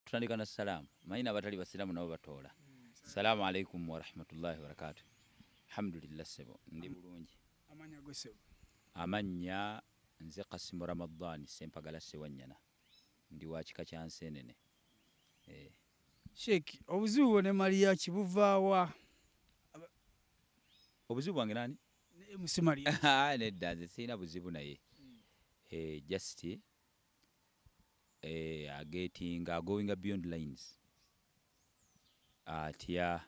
tutandika na salaamu manyi nabatali basiraamu nabo batoola salaamu alaikum warahmatullahi wabarakatu alhamdulillah sebo ndi bulungi amannya nze kasimu ramadhani sempagala sewanyana ndi wa kika kya nseenene eh. sheik obuzibu bwo ne maliyaki buvaawa obuzibu bwange nani Ah, nedda nze sirina buzibu naye hmm. eh, just eh, agetinga agoinga beyond lines atya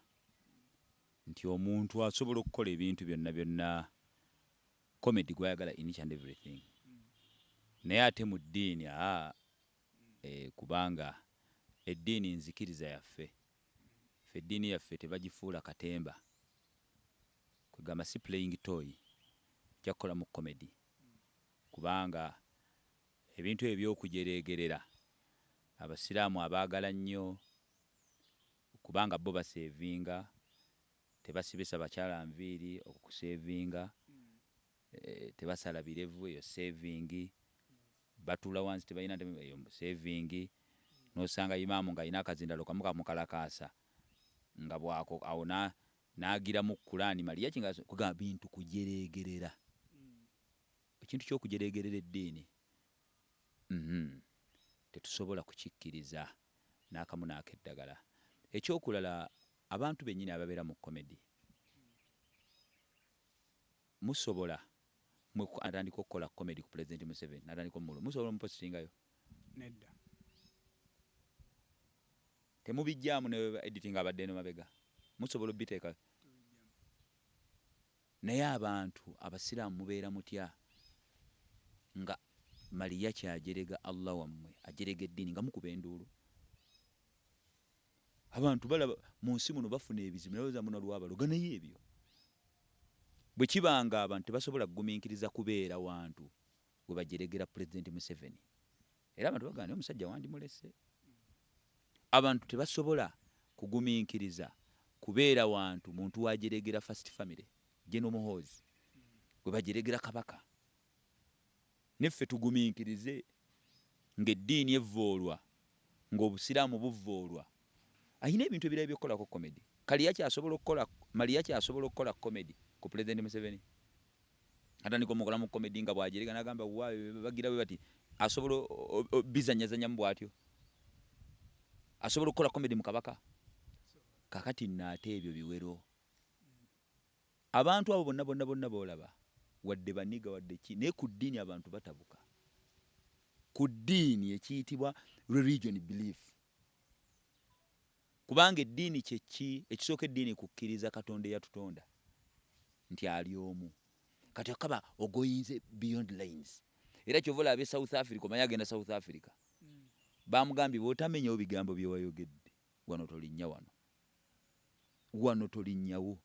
nti omuntu asobola okukola ebintu byonna byonna comedy gwayagala in each and everything hmm. naye ate mu ddiini aa ah, eh, kubanga eddiini nzikiriza yaffe ffe eddiini yaffe tebagifuula katemba Kwegamba si playing toy ojja kukolamu comedy kubanga ebintu ebyo ebyokujereegerera abasiraamu abaagala nnyo kubanga bo baseevinga tebasibisa bakyala nviiri okwo kuseevinga eh, tebasala birevu eyo seevingi batuula wansi tebalina ntebe eyo seevingi n'osanga imaamu ng'alina akazindalo kamu kamukalakaasa nga bwako awo na Nagira mu Kulaani maliya ki nga kugamba bintu kujereegerera ekintu ky'okujereegerera eddiini uhmm tetusobola kukikkiriza n'akamu n'akeddagala. Ekyokulala abantu bennyini ababeera mu komedi musobola mwe atandika okukola komedi ku pulezidenti Museveni n'atandika omululu musobola omupositingayo? Nedda. Temubijjaamu ne editing abadde eno mabega musobola obiteeka naye abantu abasiraamu mubeera mutya nga maliyaki ajerega Allah wammwe ajerega eddiini nga mukuba enduulu abantu balaba mu nsi muno bafuna ebizibu naye ozamuna lwabaloga naye ebyo bwe kibanga abantu tebasobola kugumiikiriza kubeera wantu we bajeregera pulezidenti Museveni era abantu bagamba naye omusajja wandimulese abantu tebasobola kugumiikiriza kubeera wantu muntu wajeregera first family jeno muhoozi gwe bajeregera kabaka neffe tugumiikirize ng'eddiini evvoolwa ng'obusiraamu buvvoolwa ayina ebintu ebirala byokukolako comedy kaliya kyasobola okukola maliya kyasobola okukola comedy ku president museveni atandika omukola mu comedy nga bwajerega nagamba wa bagira we bati asobola bizanyazanya mu bwatyo asobola okukola comedy mu kabaka kakati naate ebyo biwero abantu abo bonna bonna bonna boolaba wadde baniga wadde ki naye ku ddiini abantu batabuka ku ddiini ekiyitibwa religion belief Kubanga eddiini kye ki? Ekisooka eddiini kukkiriza Katonda eyatutonda nti ali omu. Kati okaba ogoinze beyond lines. Era kyova olaba e South Africa omanyi agenda South Africa. Hmm. Bamugambye bwotamenyawo bigambo bye wayogedde wano tolinnya wano. Wano tolinnyawo.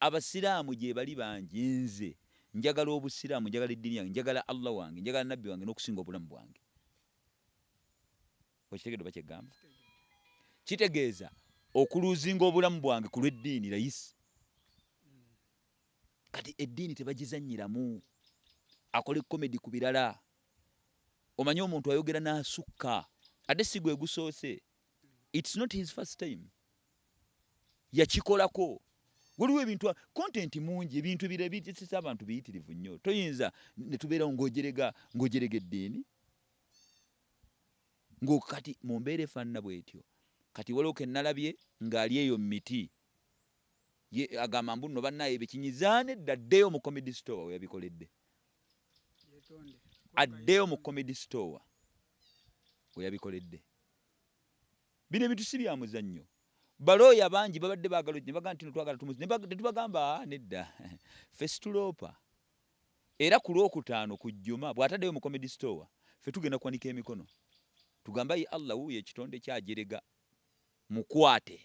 Abasiraamu gyebali bangi nze njagala obusiraamu njagala eddiini yange njagala Allah wange njagala nabbi wange n'okusinga obulamu bwange. okitegedde oba kyegamba kitegeeza okuluzinga obulamu bwange ku lw'eddiini layisi kati eddiini tebagizanyiramu akola ekomedi ku birala omanyi omuntu ayogera n'asukka ate si gwe gusoose it's not his first time yakikolako waliwo ebintu content mungi ebintu bire bitisisa abantu biyitirivu nnyo toyinza netubeerawo ngojerega ngojerega eddiini ngokati mu mbeera efaanana bwetyo kati waliwo kenalabye ng'ali eyo mu miti ye agamba mbu no bannaye bekinyizaane dda addeyo mu comedy store weyabikoledde addeyo mu comedy store weyabikoledde bino ebintu si bya muzannyo balooya bangi babadde baagala ne bagamba nti twagala tumuzi ne tubagamba ah, nedda ffe situloopa era ku lwokutaano ku jjuma bw'ataddeyo mu comedy store ffe tugenda kuwanika emikono tugamba ye allah wuuyo ekitonde kyajerega mukwate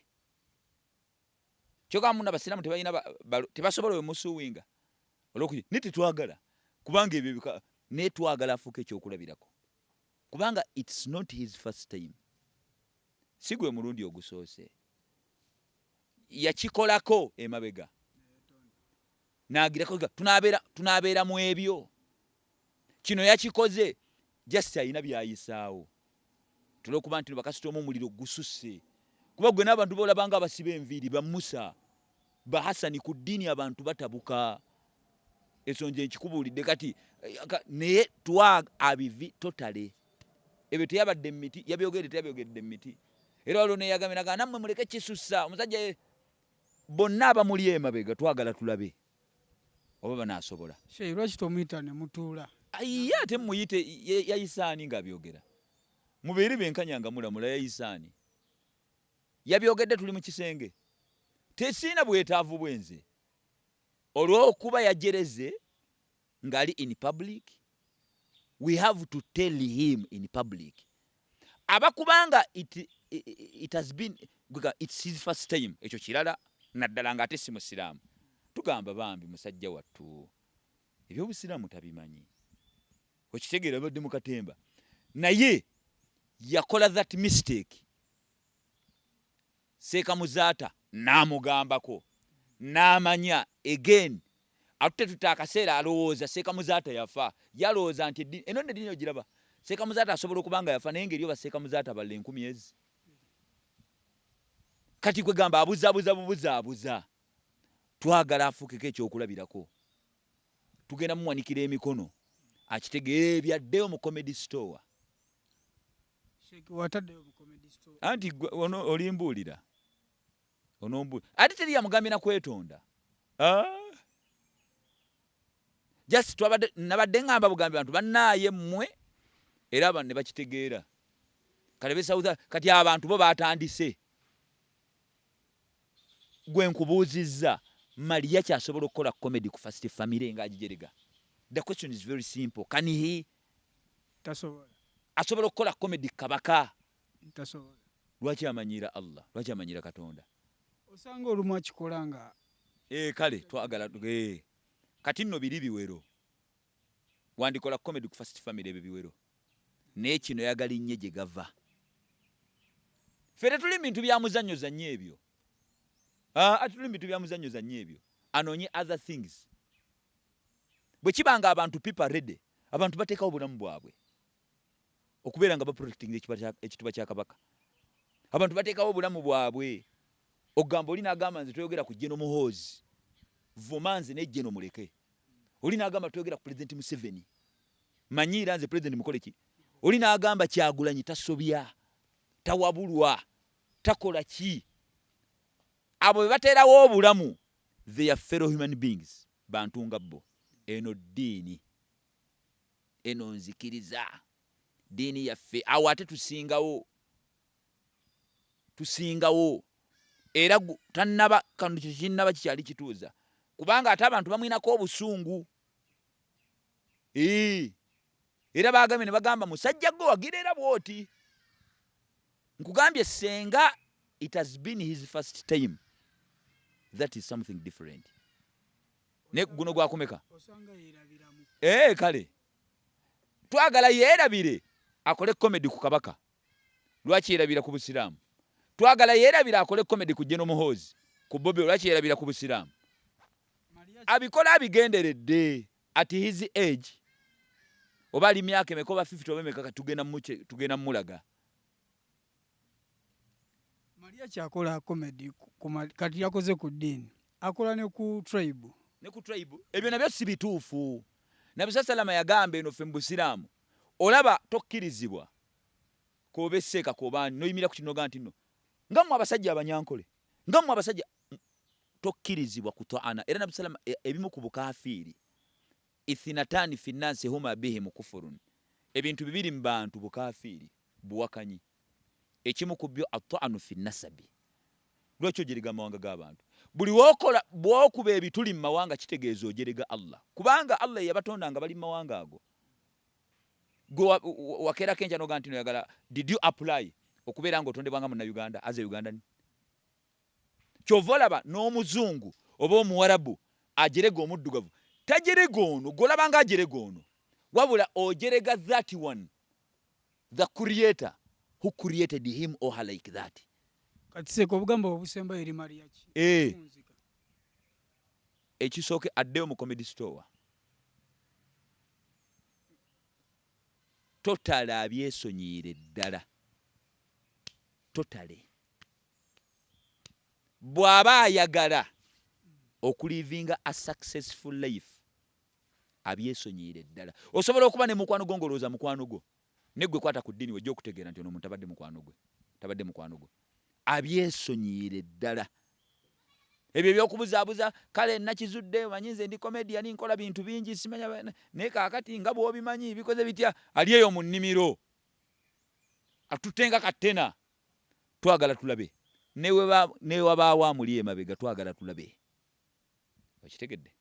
kyoka muna basiramu tebalina tebasobola oyo musuwinga olwokuki naye tetwagala kubanga ebyo bika naye twagala afuuka ekyokulabirako kubanga its not his first time si gwe mulundi ogusoose yakikolako emabega nagirako tunabeera mu ebyo kino yakikoze just alina byayisaawo tulwokuba nti bakasita omu omuliro gususse kuba gwe n'abantu bolabanga abasiba enviiri bamusa bahasani ku ddiini abantu batabuka ensonga enkikubuulidde kati eh, naye twa abivi totale ebyo teyabadde mu miti yabyogedde teyabyogedde mu miti era waliwo neyagambye nagaa nammwe muleke kisussa omusajja bonna abamuli emabega twagala tulabe oba banasobola shehe lwaki tomuyita ne mutuula ye ate muyite yayisaani ng'abyogera mubeere benkanya nga mulamula yayisaani yabyogedde tuli mu kisenge tesiina bwetaavu bwenze olw'okuba yajereze ngali in public we have to tell him in public abakubanga it, it, it has been it's his first time ekyo kirala naddala nga ate si musiraamu tugamba bambi musajja wattu ebyobusiraamu tabimanyi okitegeera badde mu katemba naye yakola that mistake Seeka Muzaata n'amugambako n'amanya again atute tute akaseera alowooza Seeka Muzaata yafa yalowooza nti eno nno eddini ogiraba Seeka Muzaata asobola okuba nga yafa naye ngeri oba Seeka Muzaata balla enkumi ezi kati kwe gamba abuzabuza bubuzaabuza twagala afuukeko ekyokulabirako tugenda muwanikira emikono akitegeera ebyaddeyo mu comedy store anti olimbuulira onombuulira ate teri yamugambye na kwetonda ah! just twabadde nabadde ngamba bugambi bantu bannaaye mmwe era abantu ne bakitegeera kale besawuza kati abantu bo batandise gwe nkubuuzizza maliya kyasobola okukola comedy ku first family nga agijerega the question is very simple can he asobola okukola komedi kabaka lwaki amanyiira allah lwaki amanyiira katonda osanga olumu akikola nga eh, kale twagala eh. kati nno biri biwero wandikola komedi ku first family ebyo biwero naye kino yagala innye gye gava fe tetuli mu bintu byamuzannyo zannyo ebyo ah, atuli mu bintu byamuzannyo zannyo ebyo anoonye other things bwe kiba nga abantu people are ready abantu batekawo bulamu bwabwe okubeera nga baprotectinga ekituba kya kabaka abantu batekawo obulamu bwabwe okugamba oli nagamba nze toyogera ku jeno muhoozi vuma nze ne jeno muleke oli nagamba toyogera ku president museveni manyiira nze president mukoleki oli nagamba kyagulanyi tasobya tawabulwa takola ki abo bebaterawo obulamu they are fellow human beings bantu nga bbo eno ddiini eno nzikiriza ddiini yaffe awo ate tusingawo tusingawo era tannaba kano kyekinnaba kikyali kituuza kubanga ate abantu bamwinako obusungu era bagambye ne bagamba musajja gwe wagira era bwoti Nkugambye senga it has been his first time that is something different ne guno gwakumeka ee eh, kale twagala yeerabire akole komedi ku kabaka lwaki yerabira ku busiraamu twagala yeerabire akole komedi ku jeno muhoozi ku bobi lwaki yerabira ku busiraamu abikola abigenderedde at his age oba ali myaka emeka oba 50 oba emeka tugenda mulaga Maria kyakola comedy kati yakoze ku ddiini akola ne ku tribe ne ku tribe ebyo nabyo si bituufu nabisa salama yagamba eno ffe mu busiraamu olaba tokkirizibwa koba esseeka koba noyimira ku kinoga nti no nga mwe abasajja abanyankole nga mwe abasajja tokkirizibwa kutwaana era nabisa salama e, ebimu ku bukafiiri Ithinatani fi nasi huma bihim kufurun, ebintu bibiri mu bantu bukafiiri, buwakanyi. Ekimu ku byo atwanu fi nasabi, lwaki ojerega amawanga g'abantu? Buli wokola bwokuba ebituli mu mawanga kitegeeza ojerega Allah, kubanga Allah yeyabatonda nga bali mu mawanga ago, gwe wakerako enkya noga ntino oyagala, did you apply okubeera nga otondebwa nga munna Uganda as a Ugandan? Kyova olaba n'omuzungu oba omuwarabu ajerega omuddugavu tajerega ono gwolabanga ajerega ono wabula ojerega that one the creator who created him or her like that. Kati seko obugamba obusemba eri Maria ki? Eh. Ekisooke addeyo mu comedy store. Totale abyesonyiire ddala. Totale. bwaba ayagala okulivinga a successful life abyesonyiyire ddala osobola okuba ne mukwano gwo ngolowooza mukwano gwo negwe kwata ku ddini wejja okutegeera nti ono omuntu tabadde mukwano gwe tabadde mukwano gwe abyesonyiyire ddala ebyo ebyokubuzaabuza kale nakizudde omanyi nze ndi komedia ninkola bintu bingi simanya naye kaakati nga bwobimanyi bikoze bitya ali eyo mu nnimiro atutte nga kattena twagala tulabe newabaawo amuli emabega twagala tulabe okitegedde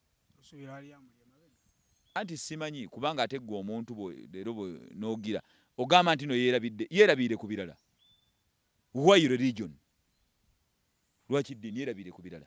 anti simanyi kubanga ate gwe omuntu leero nogira ogamba nti no yerabidde yerabiire ku birala why religion lwaki ddiini yerabiire ku birala